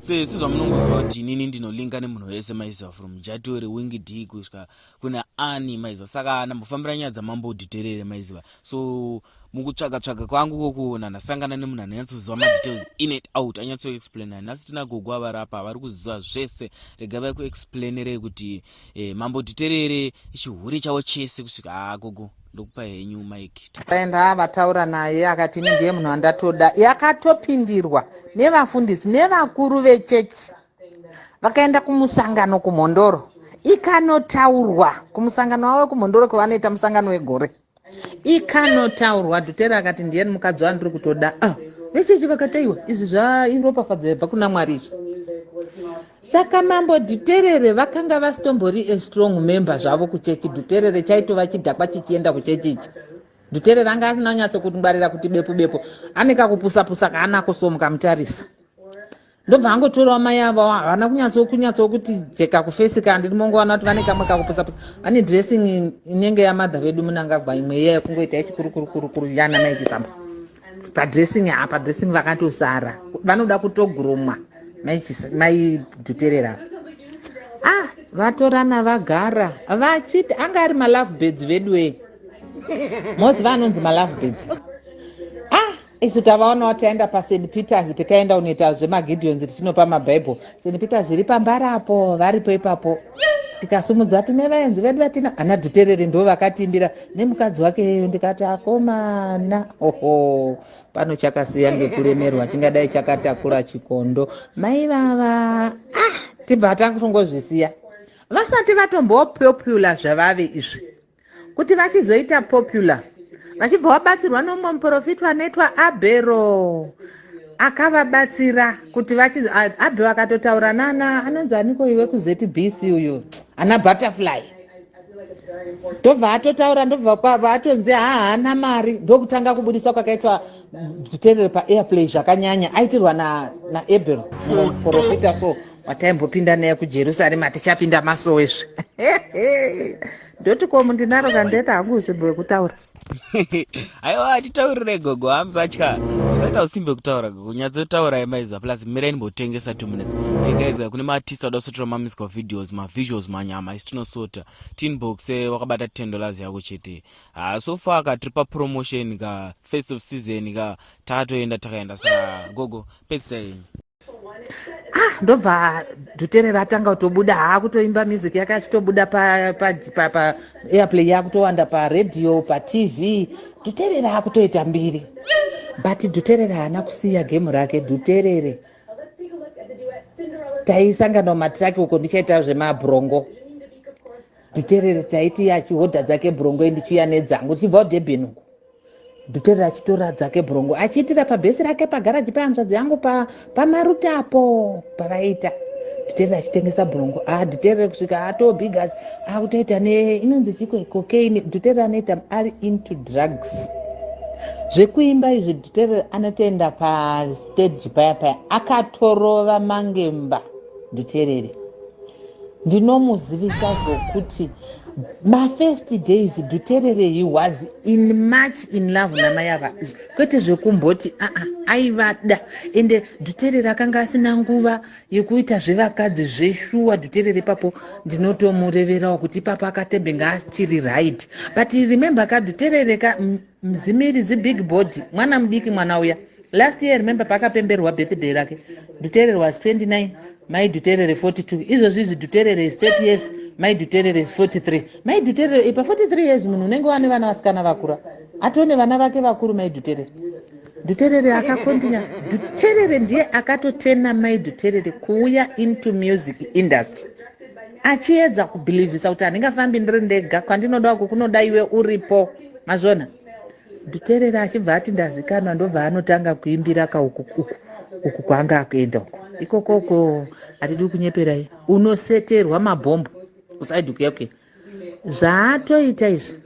sesi zvamunongoziva kuti inini ndinolinga nemunhu wese maiziva from jatore wingi d kusvika kuna ani maiziva saka ndambofambira nyaya dzamambo udhiterere maiziva so mukutsvaga tsvaga kwangu kokuona ndasangana nemunhu anonyatsoziva madetails in it out anyatsoexplaina nhasi tina gogo avarapa vari kuziva zvese rega vai kuexplainerei kuti eh, mambo dhiterere chihure chavo chese kusvika haa gogo ndokupa henyu mike takaenda vataura naye akati ini ndiye munhu andatoda yakatopindirwa nevafundisi nevakuru vechechi vakaenda kumusangano kumhondoro ikanotaurwa kumusangano wavo wekumhondoro kwavanoita musangano wegore ikanotaurwa dhutere akati ndiye mukadzi wandiri kutoda ah, vechechi vakataiwa izvi zvairopafadzo yabva kuna mwari izvi Saka mambo Dhuterere vakanga vasitombori a strong member zvavo kuchechi. Dhuterere chaitova chidhakwa chichienda kuchechi ichi. Dhuterere anga asina kunyatso kungwarira kuti bepo bepo ane kakupusa pusa kaanako so mukamutarisa. Ndobva angotorawo mai avo havana kunyatso kunyatso kuti jeka kufesi kana ndiri mongowana kuti vane kamwe kakupusa pusa. Vane dressing inenge yamadha vedu munangagwa imwe iya yekungoita yechikurukuru kurukuru yana mai Chisamba. padressing ha padressing vakatosara vanoda kutogurumwa maidhuterera ah vatorana vagara vachiti anga ari malove birds veduwee mozi vanonzi malove birds ah isu tavaonawo taenda pasaint peters petaenda unoita zvemagideons tichinopa mabible St Peter zviri pambara apo varipo ipapo tikasumudza tine vaenzi vedu vatina ana dhuterere ndo vakatimbira nemukadzi wake yeyo ndikati akomana oho pano chakasiya ngekuremerwa tingadai chakatakura chikondo mai vava ah tibva tangozvisiya vasati vatombopopula zvavave izvi kuti vachizoita popular vachibva vabatsirwa nomumwe muprofitwa anoitwa abhero akavabatsira kuti abe vakatotaura nana anonzi aniko iwe kuzbc uyo ana butterfly ndobva atotaura ndobva atonzi haana mari ndokutanga kubudisa kwakaitwa kuterere paairplay zvakanyanya aitirwa naabel muprofita so wataimbopinda naye kujerusarema tichapinda masowe zve ndoti komu ndinaro kandeta hangu usimbe wekutaura aiwa atitaurire gogo hamusatya usaita usimbe kutaura gogo nyatsotaura yemaizwa plus mira inimbotengesa two minutes egaizwa kune maartist ada kusotora mamiscal videos mavisuals manyama isitinosota tinbox eh, wakabata ten dollars yako chete haa so far ka tiri papromotion ka first of season ka takatoenda takaenda sa gogo pedzisa yenyu ah ndobva dutere ratanga kutobuda haa kutoimba music yake achitobuda paairplay yakutowanda paradio patv duterere akutoita mbiri but duterere haana kusiya gemu rake duterere taisangana mumatiraki uko ndichaita zvemabrongo Dhuterere taiti achihodha dzake bhurongo ndichiuya nedzangu tichibvawo Durban uku. Dhuterere achitora dzake bhurongo achiitira pabhesi rake pagaraji pehanzvadzi yangu pa pamaruti apo pavaiita. Dhuterere achitengesa bhurongo. Ah Dhuterere kusvika atoo bigas akutoita ne inonzi chiko cocaine. Dhuterere anoita ari into drugs. Zvekuimba izvi Dhuterere anotoenda pa stage paya paya akatorova mangemba. nditerere ndinomuzivisa zvokuti mafirst days dhuterere he was in much in love namai ava kwete zvekumboti aa ah, ah, aivada ende dhuterere akanga asina nguva yekuita zvevakadzi zveshuwa dhuterere ipapo ndinotomureverawo kuti ipapo akatembe ngaasitiri right but remember ka dhuterere ka mzimiri zibig body mwana mudiki mwana uya last year remember paakapemberwa birthday rake duterere was 29 mai duterere 42 izvozvi izvi duterere is 30 years mai duterere is 43 mai duterere ipa 43 years munhu unenge wane vana vasikana vakura atone vana vake vakuru mai duterere duterere akakondinya duterere ndiye akatotena mai duterere kuuya into music industry achiedza kubhilivhisa kuti handingafambi ndiri ndega kwandinoda uku kunoda iwe uripo mazvona ndoteerera achibva ati ndazikanwa ndobva anotanga kuimbira kauku uku uku kwaanga akuenda uku ikoko uko hatidi kunyeperai unoseterwa mabhombo kusaidi kuya kuya zvaatoita izvi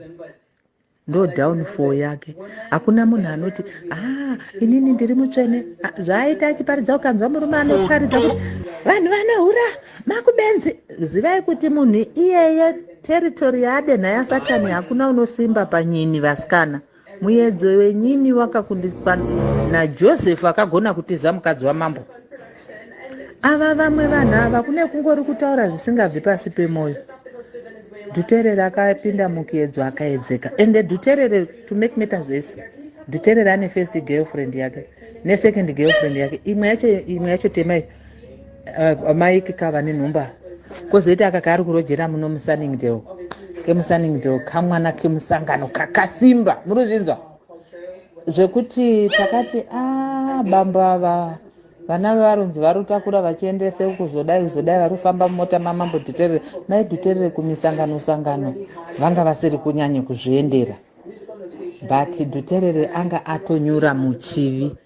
ndo downfall yake hakuna munhu anoti a ah, inini ndiri mutsvene ah, zvaaita achiparidza ukanzwa murume anoparidza kuti vanhu vanohura makubenzi zivai kuti munhu iyeye Territory yadenha yasatani hakuna unosimba panyini vasikana. Muyedzo wenyini wakakundiswa naJoseph akagona kutiza mukadzi wamambo. Ava vamwe vanhu ava kune kungori kutaura zvisingabvi pasi pemoyo. Duterere akapinda mukuyedzo akaedzeka. Ende Duterere to make matters worse. Duterere ane first girlfriend yake ne second girlfriend yake. Imwe yacho imwe yacho temai. uh, mike ka vane nhumba kozoita aka kaari kurojera muno musaningdale kemusaningdale kamwana kemusangano kakasimba muri zvinzwa zvekuti takati a ah, bambo ava vana varonzi varotakura vachiendese kuzodai kuzodai vari kufamba mumota mamambo dhuterere mai dhuterere kumisangano sangano vanga vasiri kunyanya kuzviendera but dhuterere anga atonyura muchivi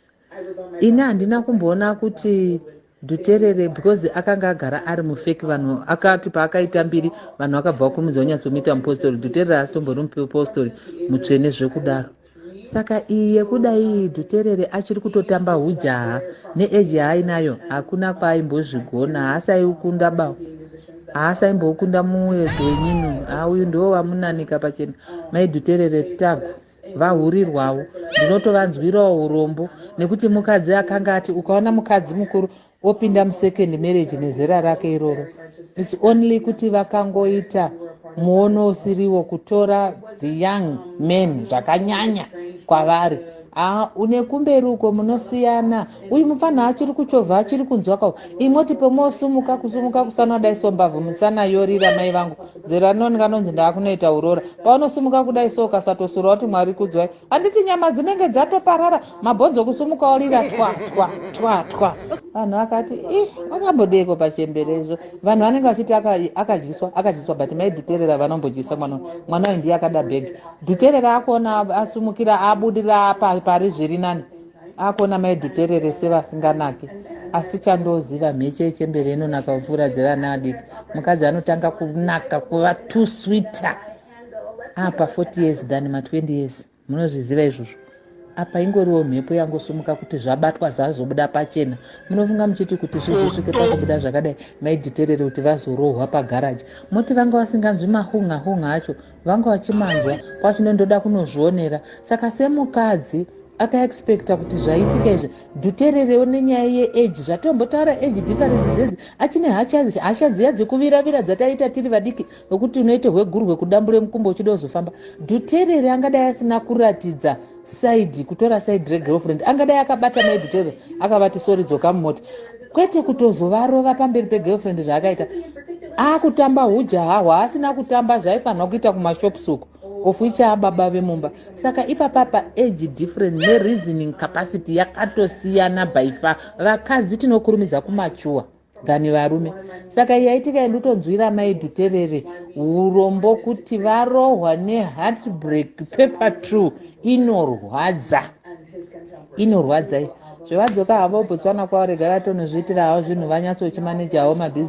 ini handina kumboona kuti dhuterere because akanga agara ari mufeki vanhu akati paakaita mbiri vanhu vakabva vakurumidza vanyatsomuita mupostori dhuterere asi tombori mupostori mutsvene zvekudaro saka iyi yekuda iyi dhuterere achiri kutotamba hujaha neeji yaainayo hakuna kwaimbozvigona haasaikunda ba haasaimbokunda muedzo wenyini hauyu ndiwo vamunanika pachena maidhuterere tagu vahurirwawo ndinotovanzwirawo urombo nekuti mukadzi akanga ati ukaona mukadzi mukuru opinda musecond marriage nezera rake iroro its only kuti vakangoita muono usiriwo kutora the young man zvakanyanya kwavari haa une kumberi uko munosiyana uyu mupfanha achiri kuchovha achiri kunzwa ka imoti pomosumuka kusumuka kusana dai sombavhu musana yorira mai vangu zera rinoni kanonzi ndaakunoita urora paunosimuka kudai so ukasatosura kuti mwari kudzwai handiti nyama dzinenge dzatoparara mabhonzo kusumuka orira twa twa twa twa vanhu vakati i akambodeiko pachembere izvo vanhu vanenge vachiti akadyiswa akadyiswa but mai dhuterera vanombodyisa mwana mwana uyu ndiye akada bhegi dhuterera akuona asumukira abudirira pari zviri nani akuona mai dhuterere sevasinganake asi chandoziva mheche yechembere inonaka kupfuura dzevana vadiki mukadzi anotanga kunaka kuva two sweeter apa 40 years than ma 20 years munozviziva izvozvo apa ingoriwo mhepo yangosumuka kuti zvabatwa zvazobuda pachena munofunga muchiti kuti zvizosvike pakubuda zvakadai maidhiterere kuti vazorohwa pagaraji moti vanga vasinganzwi mahunga hunga acho vanga vachimanzwa kwachino ndoda kunozvionera saka semukadzi akaexpecta kuti zvaitika izvi dhutererewo nenyaya yeage zvatombotaura age difference dzedzi achine hasha dziya dzekuviravira dzataiita tiri vadiki vekuti unoite hwegurwe kudambure mukumbo uchida uzofamba dhuterere angadai asina kuratidza side kutora side regirlfriend angadai akabata maidutero akavati sori dzoka mumota kwete kutozovarova pamberi pegirlfriend zvaakaita akutamba hujaha hwaasina kutamba zvaifanirwa kuita kumashops uko of which ababa vemumba saka ipapapa age different nereasoning capacity yakatosiyana by far vakadzi tinokurumidza kumachuwa than varume saka yaitika yandotonzwira mai dhuterere urombo kuti varohwa neheartbreak paper two inorwadza inorwadza zvevadzoka havo botswana kwavarega vatonozviitira havo zvinhu vanyatsochimaneja havo mabhizi